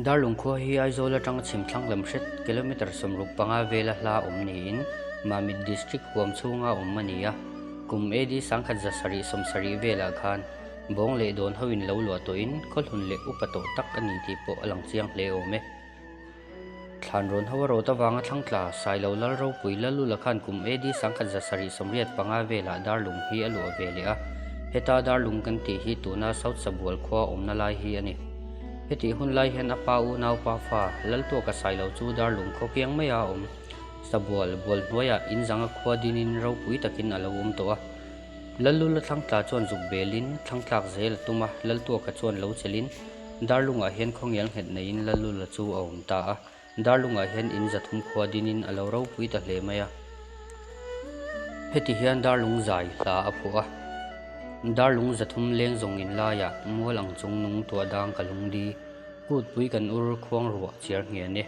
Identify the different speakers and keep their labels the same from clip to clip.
Speaker 1: Dar Lungkhua hi Aizawl atanga chhimthlang lem hret, kilometre sawmruk panga vela hla awm niin Mamit District huam chhunga awm a ni a. Kum AD sangkhat za sarih sawm sarih velah khan, Bawng leh dawn ho in lo luah tawh in khawhlun leh upa tawh tak a ni tih pawh a lang chiang hle awm e. Thlan rawn ho a rawt avanga Thlangtla, Sailo Lalro, Pui Lalula khan kum AD Sangkhat Za sarih sawmriat panga velah Darlung hi a luah ve leh a. Heta Darlung kan tih hi tuna South Sabual khua awmna lai hi a ni. Hetih hun lai hian a pa unau Pafa, Laltuaka Sailo chu Darlung khaw kiang mai a awm. Sabual, Bualhnuaia, Inzanga khua din in ropui takin a lo awm tawh a. Lalula Thlangtla chuan zuk belin Thlangtlak zel a tum a, Laltuaka chuan lo chelhin Darlunga hian khawngial nghet neiin Lalula chu a awm ta a. Darlunga hian in zathum khua dinin a lo ropui ta hle mai a. Heti hian Darlung zai hla a phuh a. Darlung zathum leng zawng in laiah mual ang chung nung tuah dang ka lung di, kut pui kan ur, khuang ruah chiar nghia ni.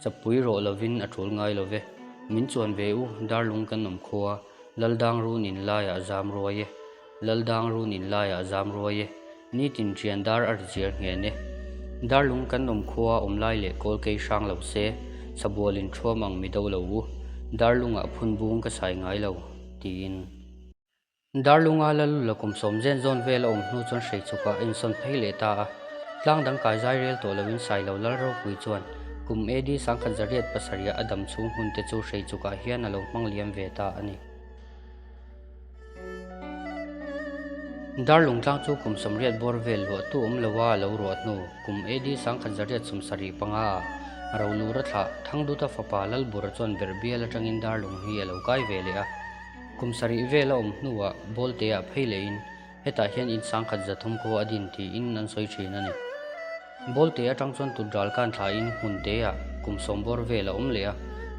Speaker 1: Chapui rawh lovin a tul ngai love. Min chuan ve u, darlung kan awm kho a, Lal dang run in laiah zam ruai e, Lal dang run in laiah zam ruai e, nitin ṭian dar a ri chiar nghen e. Darlung kan awm kho a, awm lai leh kawl kei hrang lo se, chhabual in ṭhuam ang mi do lo u, darlungah phun bung ka sai ngai lo, tiin. Darlunga Lalu la kum sawm zen zawn vel a awm hnu chuan hreichhukah a insawn phei leh ta a. Tlang dang kai zai rel tawh loin sai lo lal ropui chuan kum AD Sangkhat Zariat pasarih-a a dam chhung hun te chu hreichhukah hian a lo hmang liam ve ta a ni. Darlung tlang chu kum sawmriat bawr vel luahtu awm lo a a lo ruah hnu kum AD Sangkhat Zariat sawm sarih panga ah Rohlura thlah Thangduta fapa Lalbura chuan berh bial atangin Darlung hi a lo kai ve leh a. Kum sarih vel a awm hnuah Bawltea phei lehin hetah hian in sangkhat za thum khaw a din tiin an sawi thin a ni. Bawlte atang chuan tutral kan thlain hmun teah kum sawm bawr vel a awm leh a,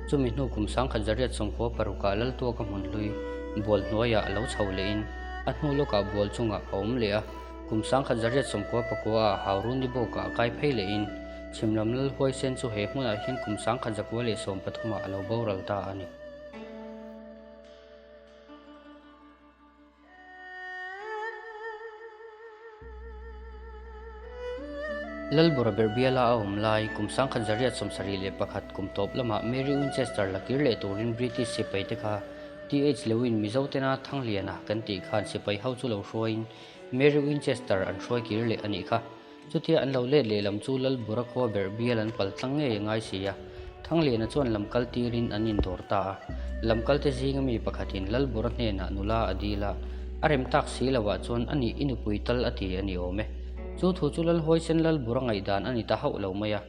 Speaker 1: chumi hnu kum sangkhat zariat sawm khaw parukah lal tuaka hmun hlui bual hnuaiah a lo chho lehin a hnu lawkah bual chungah a awm leh a. Kum sangkhat zariat sawm khaw pakuaah hauru ni bawkah a kai phei lehin chhimlam lal huaisen chu he hmunah hian kum sangkhat zakua leh sawm pathumah a lo boral ta a ni. Lalbura ber biala a awm lai kum sangkhat zariat sawm sarih leh pakhat kum tawp lamah Mary Winchester la kir leh turin British sipai te kha TH Lewin Mizo tena Thangliana kan tih khan sipai ho chu lo hruaiin Mary Winchester an hruai kir leh a nih kha. Chutia an lo let lehlam chu Lalbura khua ber bial an pal tlang ngei a ngai si a. Thangliana chuan lam kal tirin an in dawr ta a. Lam kalte zinga mi pakhatin Lalbura hnenah nula a dil a, a rem tak si lo ah chuan a nih i nupui tal a ti a ni awm e. Chu thu chu Lalhawi sen Lalbura ngaihdan a ni ta hauh lo mai a.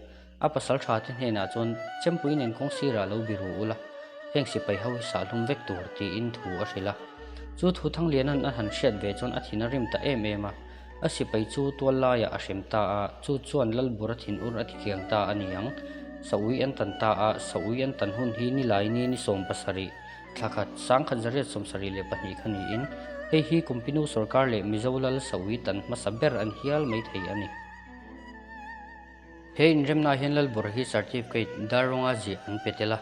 Speaker 1: A pasaltha te hnenah chuan, Chempui nen kawng sirah lo bi ru ula, heng sipai ho hi sahlum vek tur, tiin thu a hrilh a. Chu thu Thangliana'n a han hriat ve chuan a thin a rim ta em em a. A sipai chu tual laiah a hrem ta a, chu chuan Lalbura thin ur a ti kiang ta a ni ang. Saui an tan ta a, saui an tan hun hi ni Laini ni sawm pasarih, thla khat, sang khat zariat sawm sarih leh pahnih kha niin, hei hi Kumpinu sorkar leh Mizo lal saui tan hmasa ber an hial mai thei a ni. He inremnaah hian Lalbur hi Certificate dar rawnga ziah an pe tel a,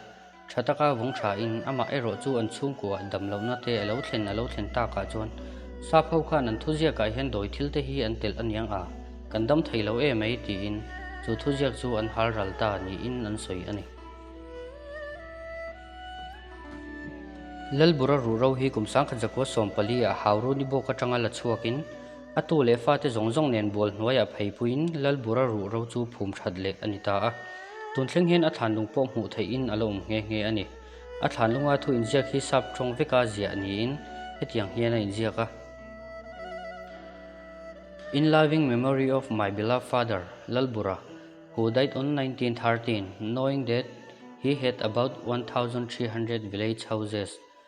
Speaker 1: tha taka vawng thain amah erawh chu an chhungkuah damlohna te a lo thlen a lo thlen takah chuan Sapho khan an thuziakah hian dawi thil te hi an telh a niang a, kan dam thei lo e mai tiin chu thuziak chu an hal ral ta niin an sawi a ni. Lalbura ruhro hi kum sangkhat zakua sawm pali ah Hauruni bawk atanga la chhuakin, A tu leh fate zawng zawng nen bual hnuaiah pheipuiin Lalbur a ruh ro chu phum that leh a ni ta a. Tun thleng hian a thlan lung pawh hmuh theihin a lo awm nghe nghe a ni. A thlan lunga thu inziak hi sap tawng veka ziah niin hetiang hian a inziak a, In loving memory of my beloved father, Lalbura, who died on nineteen thirteen, knowing that he had about one thousand three hundred village houses,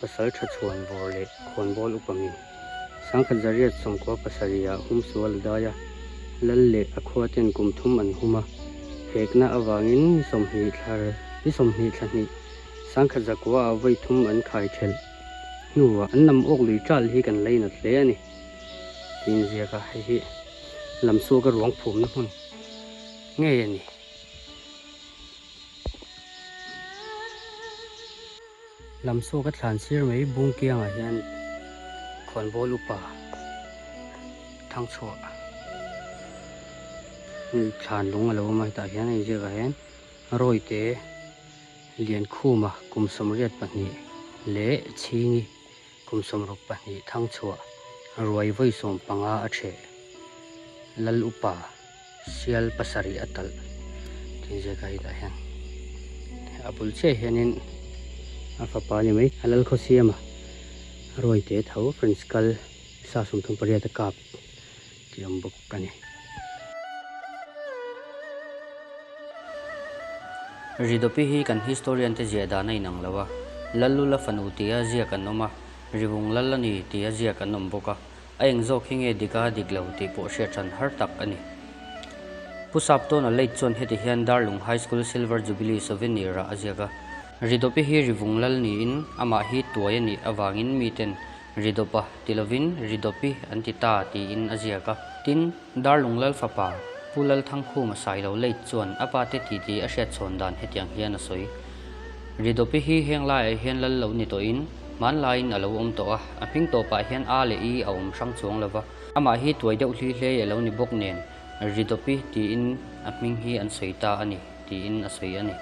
Speaker 1: Pasal tha chhuan vawr leh khawnbawl upami Sangkhat Zariat Sawmkhua pasarihah hum sual a dai a, Lal leh a khua ten kum thum an hum a, hekna avangin ni sawmhnih thla ni sawmhnih thla hnih Sangkhat Zakua ah vawi thum an khai thelh hnuah an nam awk lui tal hi kan leinawt hle a ni. Ti inziak a, hei hi lam suaka ruang phumna hmun ngei a ni. Lam sawk a thlan sir mai bung kiangah hian khawnbawl upa thang chhuah thlan lung a lo awm a, hetah hian a inziak ah hian rawite lian khuma kum sawmriat pahnih leh chhingi. Kum sawmruk pahnih thang chhuah ruai vawi sawm panga a chheh lal upa sial pasarih a talh tih ziak a indah hian a bul chiah hianin a fapa ni mai a lal khaw siama ruai te tho Prince kal sa sum thum pariat a kap Tih ang bawk a ni. Ridopi hi kan historian te ziah dan a inang lo a, Lallula fanu tia ziak an awm a, Rivung lal a ni tia ziak an awm bawk a, a eng zawk hi nge dik a dik lo tih pawh hriat ṭhan har tak a ni. Pu Saptawna late chuan heti hian Darlung High School Silver Jubilee Souvenir ah a ziak a, Ridopi hi Rivung lal niin amah hi tuai a nih avangin miten Ri dawpa ti lovin ri dawpi an ti ta tiin a ziak a. Tin, Darlung Lal fapa, Pu Lal Thangkhuma Sailo late chuan a pa te titi a hriatchhawn dan hetiang hian a sawi. Ri dawpi hi heng laiah hian lal lo ni tawhin, hmanlaiin a lo awm tawh a, a hming tawpah hian a leh i a awm hrang chuang lo va. Amah hi tuai deuh hlui hlei a lo ni bawk nen, Ri dawpi tiin a hming hi an sawi ta a ni, tiin a sawi a ni.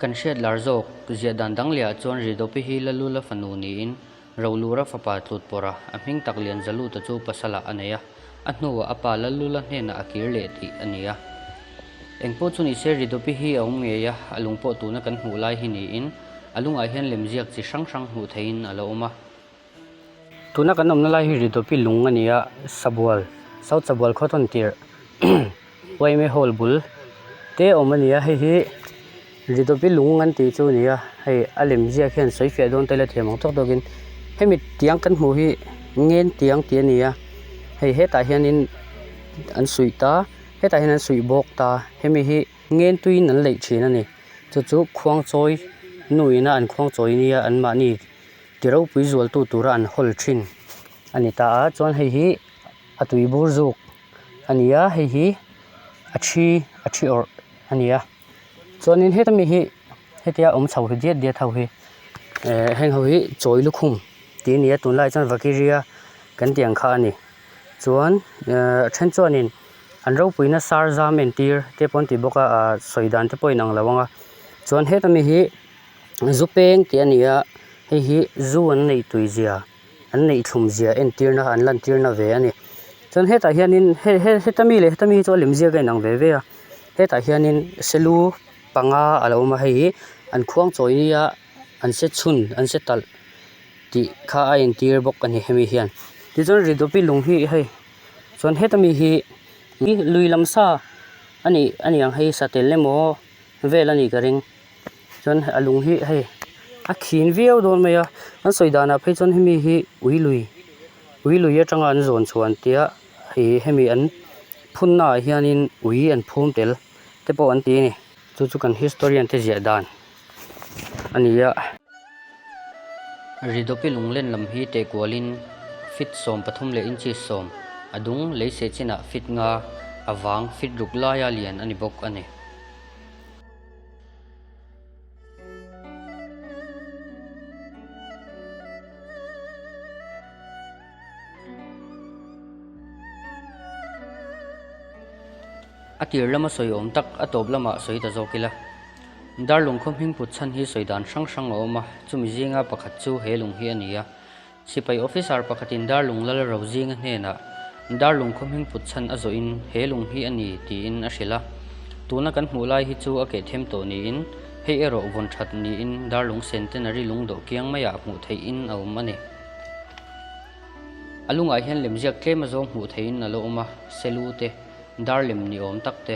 Speaker 1: Kan hriat lar zawk, ziah dan dang leh ah chuan Ridopi hi la lu la fa nu niin ro lu ra fapa tlut pawr a, a hming tak lian Zalu ta chu pasalah a nei a, a hnuah a pa la lu la hnenah a kir leh tih a ni a. Eng pawh chu nise Ridopi hi a awm ngei a, a lungpawh tuna kan hmuh lai hi niin a lungah hian lemziak chi hrang hrang hmuh theihin a lo awm a. Tuna kan awmna lai hi Ridopi lung a ni a, Sabual, South Sabual Cotton tirh YMA Hall bul te awm a ni a, hei hi Ridopi lung an tih chu a ni a, hei a lem ziak hian sawi fiah dawn ta ila thiam ang tawk tawk in hemi tiang kan hmuh hi Ngen tiang tih a ni a, hei hetah hian in an suih ta, hetah hian an suih bawk ta, hemi hi Ngen tuiin an leih thin a ni, chu chu Khuangchawi nu ina an Khuangchawi nia an mahni. Ti ropui zualtu tura an hawl thin a ni ta a, chuan hei hi a tui bur zuk a ni a, hei hi a thi a thi awrh a ni a, chuanin heta mi hi hetia awm chho hi diat diat ho hi eh heng ho hi chawi lukhum tih a ni a, tunlai chuan vakiria kan tih ang kha a ni, chuan eh a then chuan in an ropuina sar zam entir te pawh an ti bawk a, a sawi dan te pawh a inang lo ang a, chuan heta mi hi-- Zu peng tih a ni a, hei hi zu an neih tui zia, an neih thlum zia entirna an lantirna ve a ni. Chuan hetah hianin he he heta mi leh heta mi hi chu a lemziak a inang ve ve a, hetah hianin selu panga a lo awm a hei hi an khuang chawi nia an se chhun an se talh tih kha a entir bawk a ni hemi hian. Tichuan Ridope lung hi hei chuan heta mi hi lui lam sa a nih aniang hei satel emaw vel a nih ka ring. chuan a lung hi hei a khîn viau dâwn mai a an sawi dânah phei chuan hemi hi ui lui ui lui aṭanga an zawn chhuan tia hei hemi an phunnaah hianin ui an phûm tel te pawh an ti a ni chu chu kan historian te ziah dan a ni a. Ridopi lunglen lam hi teh kualin feet sawm pathum leh inchi sawm a dung lei seh chinah feet nga a vâng feet ruk laia lian a ni bawk a ni. A tir lama sawi awm tak a tawp lamah sawi ta zawk ila. Darlung khaw hming put chhan hi sawi dan hrang hrang a awm a, chumi zinga pakhat chu he lung hi a ni a. Sipai officer pakhatin darlung lal ro zinga hnenah darlung khawmhing put chhan a zawhin he lung hi a ni tiin a hrilh a. Tuna kan hmuh lai hi chu a kehthem tawh niin hei erawh vawn that niin darlung centenary lungdoh kiang maiah hmuh theihin a awm a ni. A lungah hian lemziak tlema zawng hmuh theihin a lo awm a, selu te, dar lem ni awm tak te.